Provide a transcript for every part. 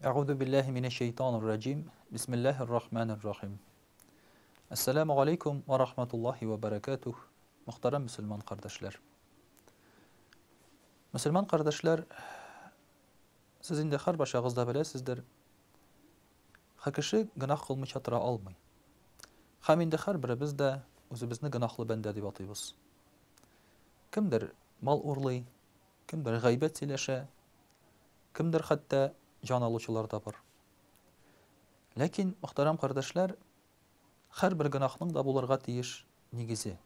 Әгуду билләһи минәш шәйтанир раҗим. Бисмиллаһир рахманир рахим. Ассаламу алейкум ва рахматуллахи ва баракатух. Мөхтәрәм мусульман кардәшләр. Мусульман кардәшләр, сез инде һәрбашагыз да беләсездер. Һәр кеше гөнаһ кылмыйча тора алмый. Һәм инде һәрберебез дә үзебезне гөнаһлы бәндә дип атыйбыз. Кемдер мал урлый, кемдер гайбәт сөйләшә, кемдер хәтта җан алучылар да бар. Ләкин, мөхтәрәм кардәшләр, һәрбер гөнаһның да булырга тиеш нигезе.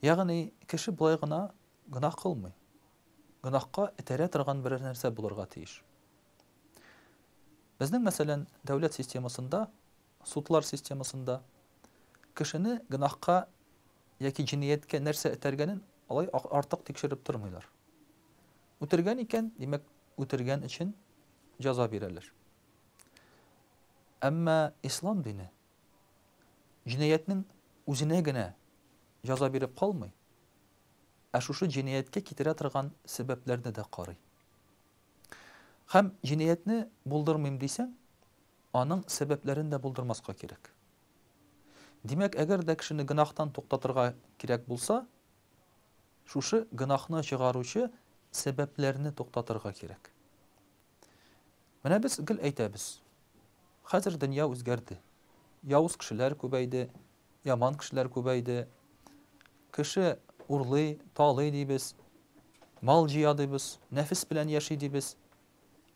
Ягъни, кеше болай гына гөнаһ кылмый. Гөнаһка этәрә торган берәр нәрсә булырга тиеш. Безнең, мәсәлән, дәүләт системасында Судлар системасында кешене гөнаһка яки җинияткә нәрсә этәргәнен алай артык тикшереп тормыйлар. Үтергән икән, димәк, үтергән өчен җәза бирәләр. Әмма ислам дине җинаятьнең үзенә генә җәза биреп калмый, ә шушы җинияткә китерә торган сәбәпләрне дә карый. Һәм җинаятьне булдырмыйм дисәң, Аның сәбәпләрен дә булдырмаска кирәк. Димәк, әгәр дә кешене гөнаһтан туктатырга кирәк булса, шушы гөнаһны чыгаручы сәбәпләрне туктатырга кирәк. Менә без гел әйтәбез, хәзер дөнья үзгәрде, явыз кешеләр күбәйде, яман кешеләр күбәйде, кеше урлый, талый дибез, мал җыя дибез, нәфес белән яши дибез.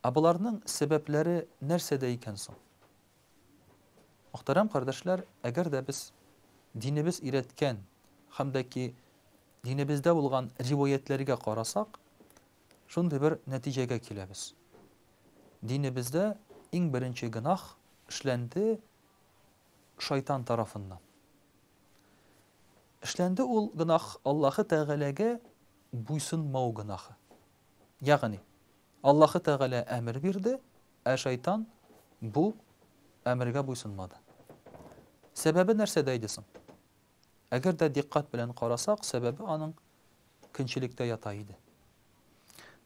Ә боларның сәбәпләре нәрсәдә икән соң? Мөхтәрәм кардәшләр, әгәр дә без динебез өйрәткән һәм дә ки динебездә булган риваятьләргә карасак, шундый бер нәтиҗәгә киләбез. Динебездә иң беренче гөнаһ эшләнде шайтан тарафыннан. Эшләнде ул гөнаһ Аллаһы Тәгаләгә буйсынмау гөнаһы. Ягъни, Аллаһы Тәгалә әмер бирде, ә шайтан бу әмергә буйсынмады. Сәбәбе нәрсәдә иде соң? Әгәр дә дикъкать белән карасак, сәбәбе аның көнчелектә ята иде.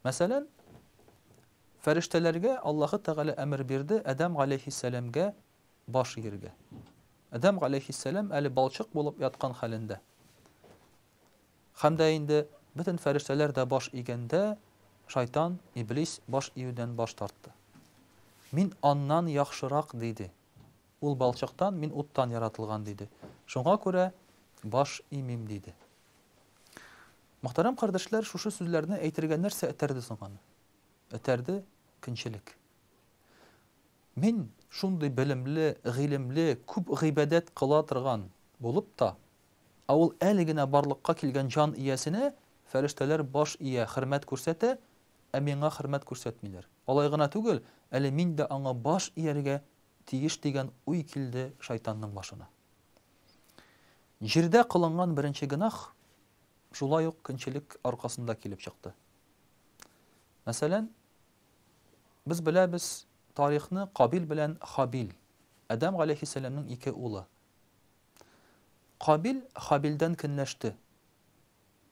Мәсәлән, фәрештәләргә Аллаһы Тәгалә әмер бирде Адәм галәйһиссәламгә баш иергә. Адәм галәйһиссәлам әле балчык булып яткан хәлендә. Һәм дә инде бөтен фәрештәләр дә баш игәндә, шайтан, иблис, баш июдән баш тартты. Мин аннан яхшырак, диде. Ул балчыктан, мин уттан яратылган, диде. Шуңа күрә баш имим, диде. Мөхтәрәм кардәшләр, шушы сүзләрне әйтергә нәрсә этәрде соң аны? Этәрде, көнчелек. Мин, шундый белемле, гыйлемле, күп гыйбадәт кыла торган булып та, Ә ул әле генә барлыкка килгән җан иясенә фәрештәләр баш ия, хөрмәт күрсәтә, ә миңа хөрмәт күрсәтмиләр. Алай гына түгел, әле мин дә аңа баш ияргә тиеш дигән уй килде шайтанның башына. Җирдә кылынган беренче гөнаһ шулай ук көнчелек аркасында килеп чыкты. Мәсәлән, без беләбез тарихны Кабил белән Хабил, Адәм галәйһиссәламнең ике улы. Кабил Хабилдән көнләште.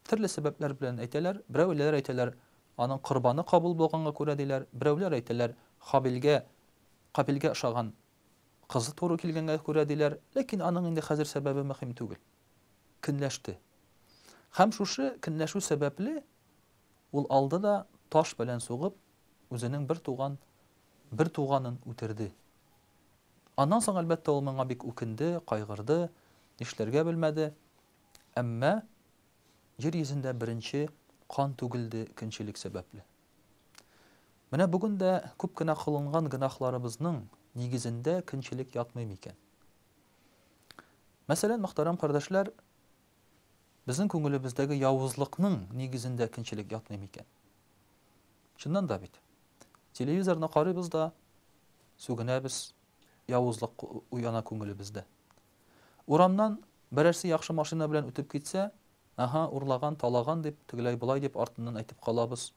Төрле сәбәпләр белән әйтәләр. Берәүләр әйтәләр, аның корбаны кабул булганга күрә, диләр. Берәүләр әйтәләр, Хабилгә Кабилгә ошаган кызы туры килгәнгә күрә, диләр. Ләкин аның инде хәзер сәбәбе мөһим түгел. Көнләште. Һәм шушы көнләшү сәбәпле, ул алды да таш белән сугып, үзенең бер туган бер туганын үтерде. Аннан соң, әлбәттә, ул моңа бик үкенде, кайгырды, нишләргә белмәде. Әмма Җир йөзендә беренче кан түгелде көнчелек сәбәпле. Менә бүген дә күп кенә кылынган гөнаһларыбызның нигезендә көнчелек ятмый микән? Мәсәлән, мөхтәрәм кардәшләр, безнең күңелебездәге явызлыкның нигезендә көнчелек ятмый микән? Чыннан да бит. Телевизорны карыйбыз да, сүгенәбез, явызлык уяна күңелебездә. Урамнан берәрсе яхшы машина белән үтеп китсә, аһа, урлаган, талаган дип, тегеләй болай дип артыннан әйтеп калабыз.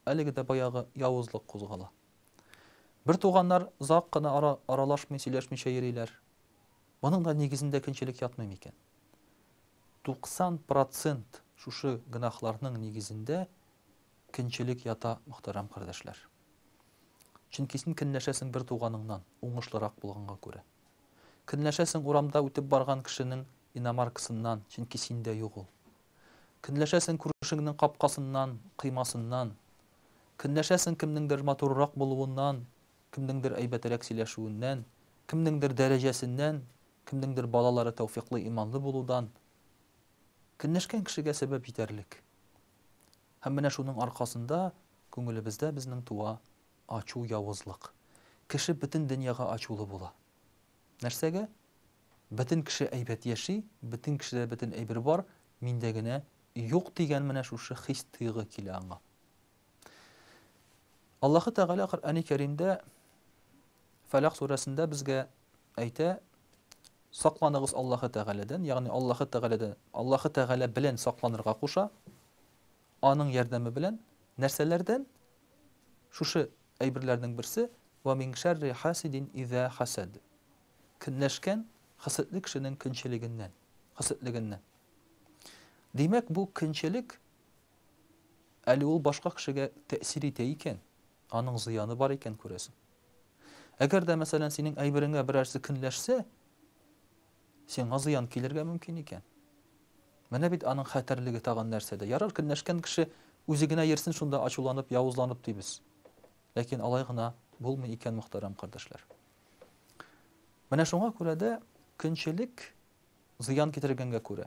Әлеге дә баягы явызлык кузгала. Бер туганнар зак кына ара, аралашмый, сөйләшмичә йөриләр. Моның да нигезендә көнчелек ятмый микән? 90 процент шушы гөнаһларның нигезендә көнчелек ята, мөхтәрәм кардәшләр. Чөнки син көнләшәсең бер туганыңнан, уңышлырак булганга күрә. Көнләшәсең урамда үтеп барган кешенең иномаркасыннан, чөнки синдә юк ул. Көнләшәсең күршеңнең капкасыннан, коймасыннан. Көнләшәсең кемнеңдер матуррак булуыннан, кемнеңдер әйбәтерәк сөйләшүеннән, кемнеңдер дәрәҗәсеннән, Кемнеңдер балалары тәүфиклы, иманлы булудан көнләшкән кешегә сәбәп җитәрлек. Һәм менә шуның аркасында күңелебездә безнең туа ачу, явызлык. Кеше бөтен дөньяга ачулы була. Нәрсәгә? Бөтен кеше әйбәт яши, бөтен кешедә бөтен әйбер бар, миндә генә юк дигән менә шушы хис-тойгы килә аңа. Аллаһы Тәгалә Коръәни Кәримдә Фәләк сүрәсендә безгә әйтә, сакланыгыз Аллаһы Тәгаләдән, ягъни Аллаһы Тәгаләдә, Аллаһы Тәгалә белән сакланырга куша, аның ярдәме белән, нәрсәләрдән? Шушы әйберләрнең берсе, Вә мин шәрри хасидин иза хасад. Көнләшкән хәсетле кешенең көнчелегеннән, хәсетлегеннән. Димәк, бу көнчелек Әле ул башка кешегә тәэсир итә икән, аның зыяны бар икән, күрәсең. Әгәр дә, мәсәлән, синең әйбереңә берәрсе көнләшсә, сиңа зыян килергә мөмкин икән. Менә бит аның хәтәрлеге тагын нәрсәдә. Ярар, көнләшкән кеше үзе генә йөрсен шунда ачуланып, явызланып дибез. Ләкин алай гына булмый икән, мөхтәрәм кардәшләр. Менә шуңа күрә дә көнчелек зыян китергәнгә күрә,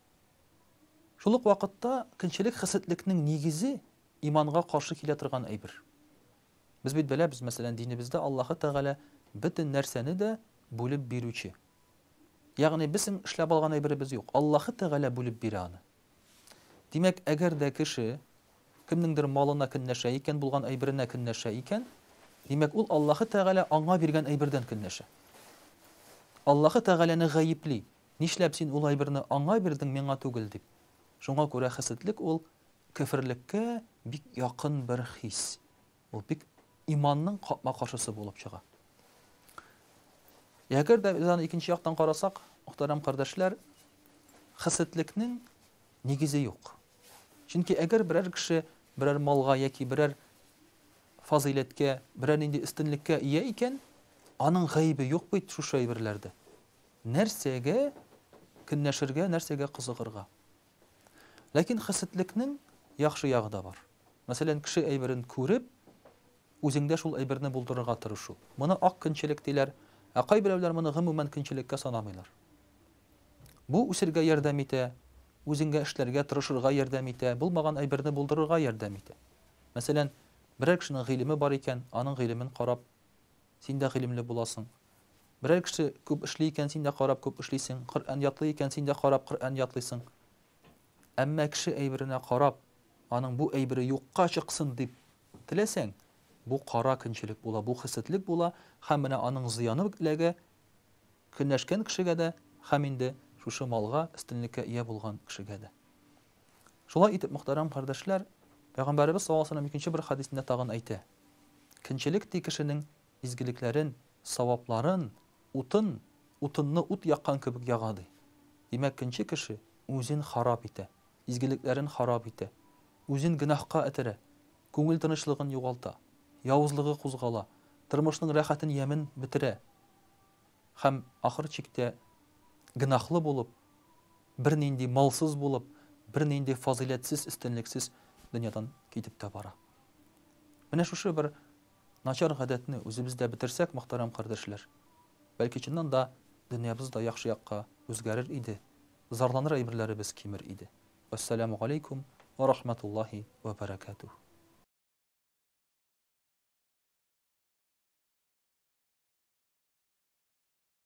Шул ук вакытта көнчелек хәсәтлекнең нигезе, иманга каршы килә торган әйбер. Без бит беләбез, мәсәлән, динебездә Аллаһы Тәгалә бөтен нәрсәне дә бүлеп бирүче. Ягъни безнең эшләп алган әйберебез юк, Аллаһы Тәгалә бүлеп бирә аны. Димәк, әгәр дә кеше кемнеңдер малына көнләшә икән, булган әйберенә көнләшә икән, димәк, ул Аллаһы Тәгалә аңа биргән әйбердән көнләшә. Аллаһы Тәгаләне гаепли. Нишләп син ул әйберне аңа бирдең, миңа түгел? дип. Шуңа күрә хәседлек ул көферлеккә бик якын бер хис. Ул бик иманның капма-каршысы булып чыга. Әгәр дә без аны икенче яктан карасак, мөхтәрәм кардәшләр, хәсетлекнең нигезе юк. Чөнки әгәр берәр кеше берәр малга яки берәр фазыйләткә, берәр нинди өстенлеккә ия икән, аның гаебе юк бит шушы әйберләрдә. Нәрсәгә көнләшергә, нәрсәгә кызыгырга? Ләкин хесетлекнең яхшы ягы да бар. Мәсәлән, кеше әйберен күреп, үзеңдә шул әйберне булдырырга тырышу. Моны ак көнчелек диләр, ә кайберәүләр моны гомумән көнчелеккә санамыйлар. Бу үсергә ярдәм итә, үзеңә эшләргә, тырышырга ярдәм итә, булмаган әйберне булдырырга ярдәм итә. Мәсәлән, берәр кешенең гыйлеме бар икән, аның гыйлемен карап, Син дә гыйлемле буласың. Берәр кеше күп эшли икән, син дә карап күп эшлисең, Коръән ятлый икән, син дә карап Коръән ятлыйсың. Әмма кеше әйберенә карап, аның бу әйбере юкка чыксын дип теләсәң, бу кара көнчелек була, бу хәсәдлек була һәм менә аның зыяны ук эләгә көнләшкән кешегә дә һәм инде шушы малга, өстенлеккә ия булган кешегә дә. Шулай итеп, мөхтәрәм кардәшләр, Пәйгамбәребез саллаллаһу галәйһи ва сәлләм икенче бер хәдисендә тагын әйтә. Кенчелек ти кешенең изгелекләрен, савапларын, утын, утынны ут яккан кебек яга, ди. Димәк, кенче кеше үзен харап итә, изгелекләрен харап итә, үзен гөнаһка этәрә, күңел тынычлыгын югалта, явызлыгы кузгала, тормышның рәхәтен, ямен бетерә һәм, ахыр чиктә, гөнаһлы булып, бернинди малсыз булып, бернинди фазыйләтсез, өстенлексез дөньядан китеп тә бара. Менә шушы бер начар гадәтне үзебездә бетерсәк, мөхтәрәм кардәшләр, бәлки чыннан да дөньябыз да яхшы якка үзгәрер иде, зарланыр әйберләребез кимер иде. Вәссәламү галәйкүм вә рахмәтуллаһи вә бәрәкәтүһ.